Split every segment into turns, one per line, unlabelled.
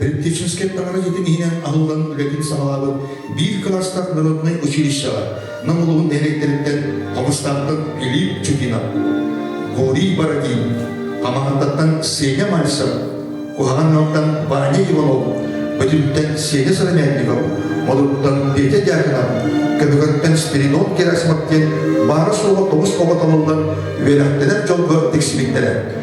Рентгенческэй баҕарыытын иһинэн аһыллан үлэтин саҕалаабыт биир кылаастаах народнай училищеҕа Нам улууһун нэһилиэктэриттэн Хомустаантан Глиб Чупина, Гурий Бородин, Хамаандаттан Сеня Мальцев, Куһаҕан Ньалтан Ваня Иванов, Бөтүттэн Сеня Сыромятников, Модуттан Петя Дьяконов, Көбүгэртэн Спиридон Герасимов диэн баара-суоҕа тоҕус оҕо талыллан үөрэхтэнэр дьолго тиксибиттэрэ.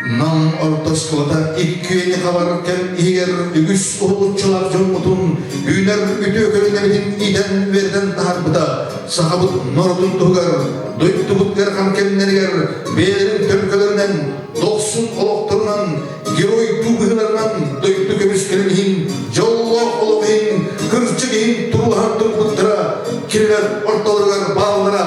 Нам ортосуота иккиэн хабаркем иһигэр үгүс уһулуччулаах дьоммутун үүнэр үтүөкөлүнэбитин иитэн үөрдэн таһарбыта сахабыт норуотун туһугар дойдубут ыарахан кэмнэригэр бэйэлэрин төлкөлөрүнэн дохсун олохторунан герой дуу быһыыларынан дойду көмүскэлин иһин дьоллоох олох иһин кырдьык иһин туруһан турбуттара кинилэр ортолоругар бааллара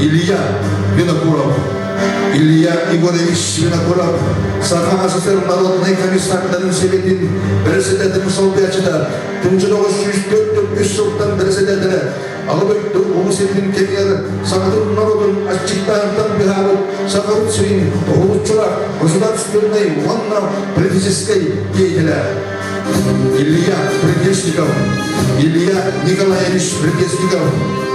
Илья Винокуров, Илья Егорович Винокуров сархаастыр народнай комиссардарын сэбэтин бэрэссэдээтин солбуйачыта 1904-3 сылтан бэрэссэдээтэрэ аҕа дойду Уһу сирин кэмигэр сахатын народун аччыктаантан быһаарып сахабыт сирин уһулуччура государственнай уонна политическай деятеля Илья Предельщиков, Илья Николаевич Предельщиков,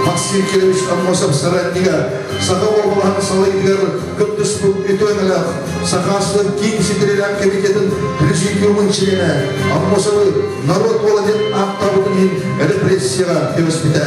Максим Кирович Аммосов соратнига, саха уобалаһын салайыгар кыттыспыт итонелах Сахаслык киин ситирилээх комитетин президиумун членэ Аммосовы народ уола диэн ааттаабытын иһин репрессияҕа көмөспүтэ.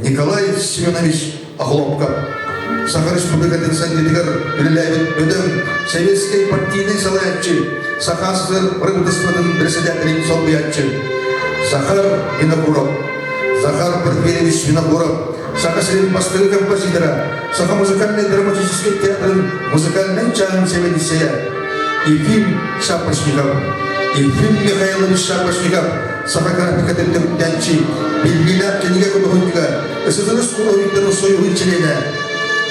Николай Семенович Охлопков Саха Республикатын Сэндитигэр үлэлээбит бөдөҥ сэбиэскэй партийнай салайааччы, Саха СССР правительствотын председателин солбуйааччы Захар Винокуров, Захар Порфирьевич Винокуров, Саха сирин бастыҥ композитора, Саха музыкальнай драматическай театрын музыкальнай чааһын сэбиэдиссэйэ Ефим Шапошников, Ефим Михайлович Шапошников Саха графикатын түмүктэнчи биллиилээх кинигэ худуоһунньугар ССНС худуоһуйдарын союһун чилиэнэ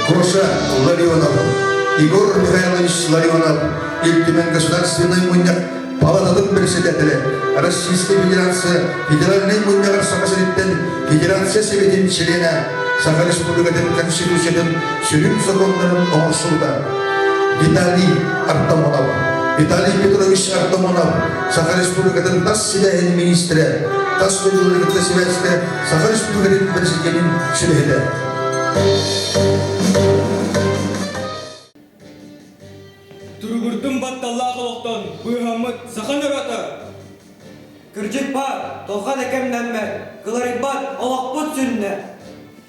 Гоша Ларионов, Егор Михайлович Ларионов, Ил Түмэн Государственнай Мунньах палататын председателэ, Российская Федерация Федеральнай Мунньаҕар Саха сириттэн Федерация Сэбэтин чилиэнэ, Саха Республикатын Конституциятын сүрүн законнарын оҥорсубута Виталий Артамонов. Виталий Петрович Артамонов Саха Республикатын тас сибээһин министрэ, тас дойдуларын кытта сибээстэ, Саха Республикатын Бэрэсидьиэнин сүбэһитэ. Туругурдум батталлаах олохтон быыһаммыт саха норуота. Кырдьык баар, толхан экэмнэммэт, кыларыйбат олохпут сүннэ.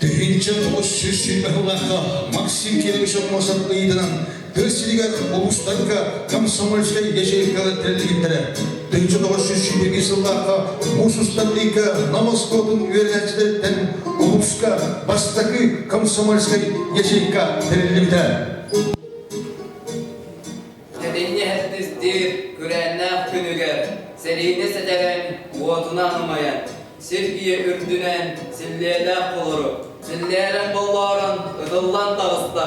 Тыһынча тоҕус сүүс сүүрбэ сыллаахха Максим Кириллышев муосат ыйытынан тыа сиригэр улуустарга комсомольскай ячейкалар тэрилтэлэрэ 1971 сыллааҕы муус устан ыйга Нам оскуолатын үөрэнээччилэриттэн улууска бастакы комсомольскай ячейка тэриллибитэ. Эдинни эһэттистир күрээннээх күнүгэр сэлиинэ сэтэрэн уотунан умайан, сиргийэ үрдүнэн силлиэлээх болору, силлээрэн боллоорон ытыллан таҕыста.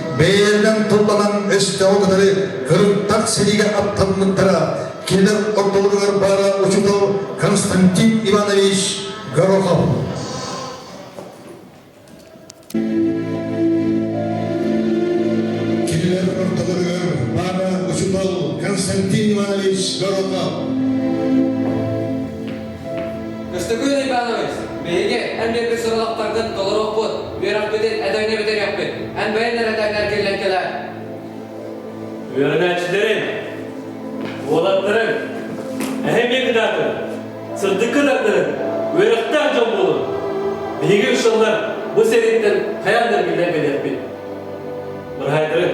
бэйэлэринэн тылланан өстөөҕү кытары кырыктах сэриигэ аттаммыттара кинилэр ортолоругар баара учутал Константин Иванович Горохов. Кинилэр ортолоругар баара учутал Константин Иванович Горохов. Көстөкүүн Иванович, биһиги эн биэрбит сурулахтаргын толорукпут, үөрэхпитин этэҥҥэ бүтэриэхпит. Эн бэйэн эрэтэҥҥэр киллэн кэлээр. Үөрэнээччилэрин, уолаттарын, эһэм кытаатын, сырдык кытардарын үөрэхтээх дьон буолун. Биһиги ыксаллар бу сэрииттэн хайаан да эргиллэн кэлэрбит. Бырайдарын,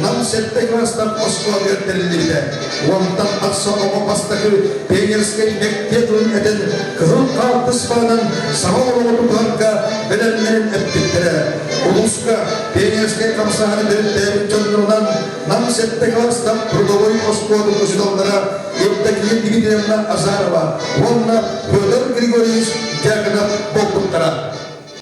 Нам сэттэ кылаастан оскуолатыгар тэриллибитэ. Уонтан тахса оҕо бастакы пионерскай мектеп тылын этин кыһыл хаартыспаларын саҥа олоҕутутарга бэлэмнэрин эппиттэрэ. Улууска пионерскай хамсаһары төрүттээбит дьоннорунан Нам сэттэ кылаастан трудовой оскуола учууталлара Евдокия Дмитриевна Азарова уонна Петр Григорьевич Дягонов буолбуттара.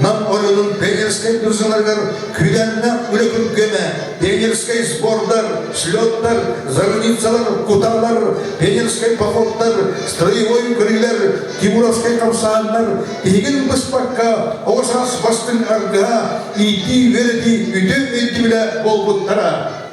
Нам оройунун пионерскай дузуларыгар күүдэннэх үлэ күргэмэ, пионерскай сбордар, слеттар, зарубицалар, куталар, пионерскай походтар, строевой көрүүлэр, тимуровскай хамсааннар тиһигин быспакка оҕо саас бастыҥ аргыһа иитии үөрэтии үтүө өйдөбүлэ буолбуттара.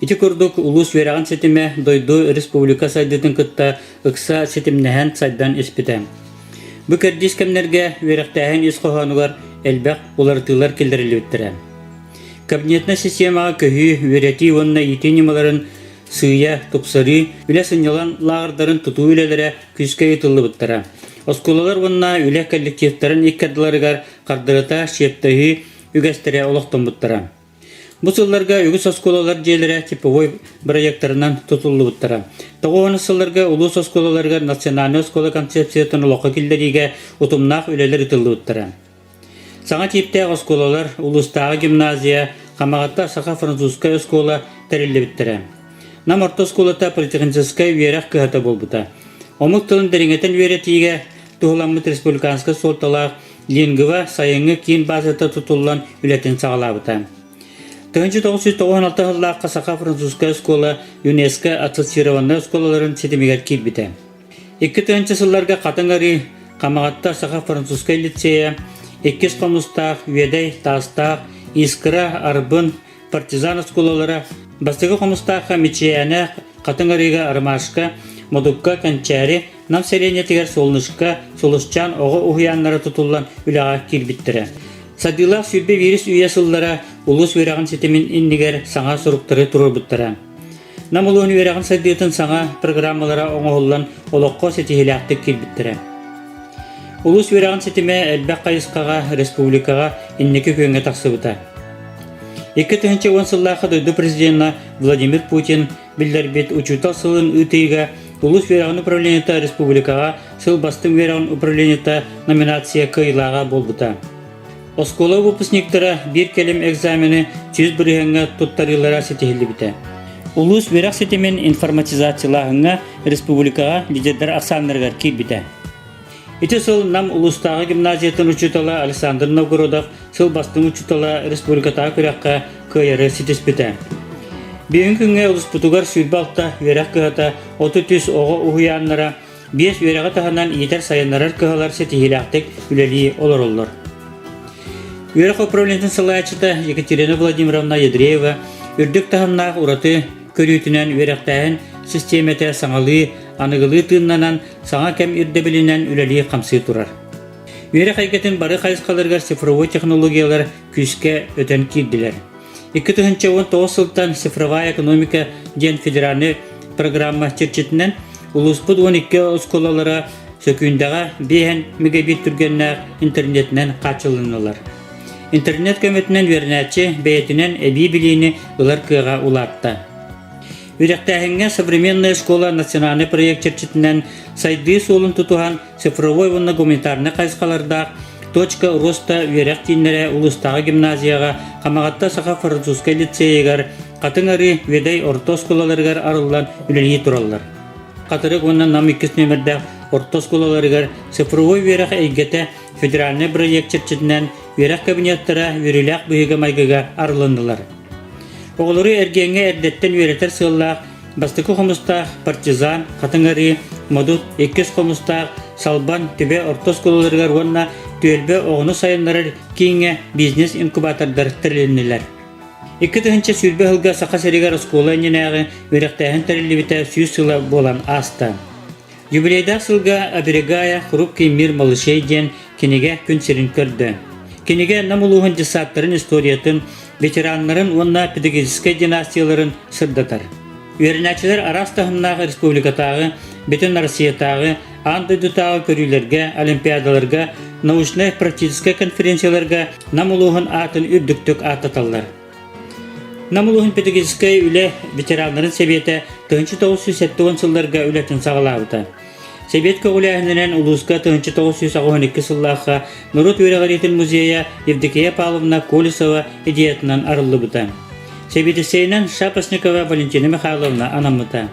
Ити курдук улуус үөрэҕин ситимэ дойду республика сайдыытын кытта ыкса ситимнэһэн сайдан испитэ. Бу кэрдиис кэмнэргэ үөрэхтээһин ис хоһоонугар элбэх уларытыылар киллэриллибиттэрэ. Кабинетная системаҕа көһүү, үөрэтии уонна иитии ньымаларын сыыйа тупсарыы, үлэ сынньалаҥ лааҕырдарын тутуу үлэлэрэ күүскэ ыытыллыбыттара. Оскуолалар уонна үлэ коллективтарын икки ардыларыгар хардарыта чиэптэһии үгэстэрэ олохтоммуттара. Бу сылларга үгүс оскуолалар дьиэлэрэ типовой бырайыактарынан тутуллубуттара. Тоҕуонус сылларга улуус оскуолаларыгар национальнай оскуола концепциятын олоххо киллэриигэ утумнаах үлэлэр ыытыллыбыттара. Саҥа тииптээх оскуолалар, улуустааҕы гимназия, Хамаҕатта саха-французскай оскуола тэриллибиттэрэ. Нам орто оскуолата политехническай үөрэх кыһата буолбута. Омук тылын дириҥэтэн үөрэтиигэ туһуламмыт республиканскай суолталаах Ленгова сайыҥҥы киин базата тутуллан үлэтин саҕалаабыта. 1996 сыллаахха саха-французскай оскуола ЮНЕСКО ассоциированнай оскуолаларын ситимигэр киирбитэ. Икки тыһыынча сылларга Хатан арыы Хамаҕатта саха-французскай лицея иккис хомустаах Үөдэй таастаах Искра Арбын партизан оскуолалара бастакы хомустаахха Мичийээнэ Хатыҥ Арыыга Армашка Модукка Кэнчээри Нам сэлиэнньэтигэр Солнышка Солусчаан оҕо уһуйааннара тутуллан үлэҕэ киирбиттэрэ. Садыылаах сүүрбэ биирис үйэ сыллара улуус үөрэҕин ситимин иннигэр саҥа соруктары туруорбуттара. Нам улуун үөрэҕин сайдыытын саҥа программалара оҥоһуллан олоххо ситиһиилээхтик киирбиттэрэ. Улус үөрэҕин ситимэ элбэх хайысхаҕа республикаҕа инники күөҥҥэ тахсыбыта. Икки тыһыынча уон сыллаахы дойду президенэ Владимир Путин биллэрбит Учуутал сылын ыытыыга Улус үөрэҕин управлениета республикаҕа сыл бастыҥ үөрэҕин управлениета номинация кыайыылааҕа буолбута. Оскуола выпускниктара биир кэлим экзамены сүүс бырыһыаҥҥа туттарыылара ситиһиллибитэ. Улуус үөрэх ситимин информатизациялааһыҥҥа республикаҕа лидердэр ахсааннарыгар киирбитэ. Ити сыл Нам улуустааҕы гимназиятын учуутала Александр Новгородов сыл бастыҥ учуутала республикатааҕы күрэххэ кыайары ситиспитэ. Бүгүнҥү күҥҥэ улууспутугар сүүрбэ алта үөрэх кыһата, отут үс оҕо уһуйааннара, биэс үөрэҕи таһынан иитэр сайыннарар кыһалар ситиһиилээхтик үлэлии олороллор. Үөрэх управлениетын салайааччыта Екатерина Владимировна Ядреева үрдүк таһымнаах ураты көрүүтүнэн үөрэхтээһин систиэмэтэ саҥалыы, аныгылыы тыыннанан, саҥа кэм ирдэбилинэн үлэлии-хамсыы турар. Үөрэх эйгэтин бары хайысхаларыгар цифровой технологиялар күүскэ өтөн киирдилэр. Икки тыһыынча уон тоҕус сылтан «Цифровая экономика» диэн федеральнай программа чэрчитинэн улууспут уон икки оскуолалара Сөкүүндэҕэ биэһэн мегабит түргэннээх интернетинэн хааччылыннылар. Интернет көмөтүнэн үөрэнээччи бэйэтинэн эбии билиини ылар кыаҕа улаатта. Үрэхтээһиҥҥэ современная школа национальный проект чэрчитинэн сайдыы суолун тутуһан цифровой уонна гуманитарнай хайысхалардаах Точка роста үөрэх кииннэрэ улуустааҕы гимназияҕа Хамаҕатта саха французскай лицейигар Хатыҥ Арыы Ведай орто оскуолаларыгар арыллан үлэлии тураллар. Хатырык уонна Нам иккис нүөмэрдээх орто оскуолаларыгар цифровой үөрэх эйгэтэ федеральнай бырайыак чэрчитинэн үөрэх кабинеттара үөрүүлээх быһыыга-майгыга арылыннылар. Оҕолору эргиэҥҥэ эрдэттэн үөрэтэр сыаллаах бастакы хомустаах партизан, хатыҥ арыы, модут, иккис хомустаах салбан, түбэ орто оскуолаларыгар уонна түөлбэ оҕону сайыннарар кииҥҥэ бизнес-инкубатордар тэрилиннилэр. Икки тыһыынча сүүрбэ сылга Саха сиригэр оскуола иннинээҕи үөрэхтээһин тэриллибитэ сүүс сыла буолан ааста. Юбилейдаах сылга «Оберегая хрупкий мир малышей» диэн кинигэ күн сирин көрдө. Кинигэ Нам улууһун десанттарын историятын, ветераннарын уонна педагогическай династияларын сырдатар. Үөрэнээччилэр араас таһымнаах республикатааҕы, бүтүн Россиятааҕы, аан дойдутааҕы көрүүлэргэ, олимпиадаларга, научнай-практическай конференцияларга Нам улууһун аатын үрдүктүк ааттаталлар. Нам улууһун педагогическай үлэ ветераннарын сэбиэтэ тыһыынча тоҕус сүүс сэттэ уон сылларга үлэтин саҕалаабыта. Сэбиэт көҕүлээһининэн улууска тыһыынча тоҕус сүүс аҕыс он икки сыллаахха норуот үөрэҕириитин музейа Евдокия Павловна Колесова идеятынан арыллыбыта. Сэбиэтиссэйинэн Шапошникова Валентина Михайловна анаммыта.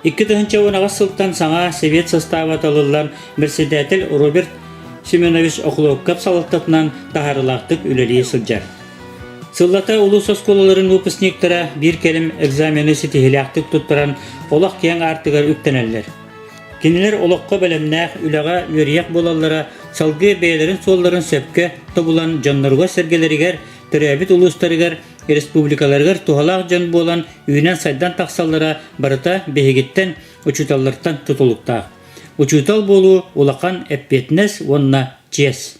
Икки тыһыынча уон аҕыс сылтан саҥа сэбиэт састааба талыллан председатель Роберт Семенович Охлопков салалтатынан таһаарылаахтык үлэлии сылдьар. Сыллата улуус оскуолаларын выпускниктара биир кэлим экзамены ситиһиилээхтик туттаран олох киэҥ аартыгар үктэнэллэр. Кинилэр олоххо бэлэмнээх, үлэҕэ үөрүйэх буолаллара салгыы бэйэлэрин суолларын сөпкө тобулан дьонноругар-сэргэлэригэр, төрөөбүт улуустарыгар, республикаларыгар туһалаах дьон буолан үүнэн-сайдан тахсаллара барыта биһигиттэн, учууталлартан тутулуктаах. Учуутал буолуу улахан эппиэтинэс уонна чиэс.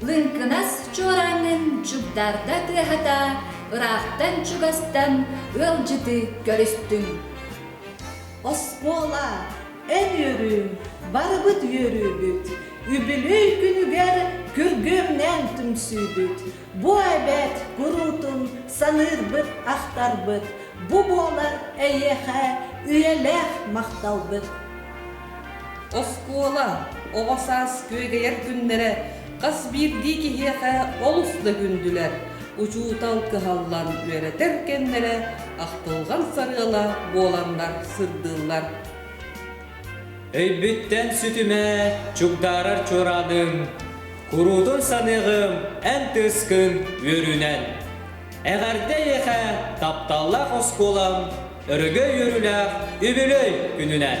Лыҥкынас чуораанын дьугдарда тыаһата, ыраахтан чугастан ыалдьыты көрүстүн. Оскуола, эн үөрүүҥ, барыбыт үөрүүбүт. Үбүлүөй күнүгэр күргүөмнээн түмсүүбүт. Бу эбэт куруутун саныырбыт, ахтарбыт. Бу буолар эйиэхэ үйэлээх махталбыт. Оскуола, оҕо саас күөгэйэр күннэрэ хас биирдии киһиэхэ олус да күндүлэр, учуутал кыһаллан үөрэтэр кэмнэрэ ахтылҕан сарыала буоланнар сырдыыллар. Өйбүттэн сүтүмэ чугдаарар чуораадым, куруутун саныаҕым эн тыскын үөрүүнэн. Эҕэрдэ эйиэхэ тапталлаах оскуолам, өрөгөй үөрүүлээх үбүлүөй күнүнэн!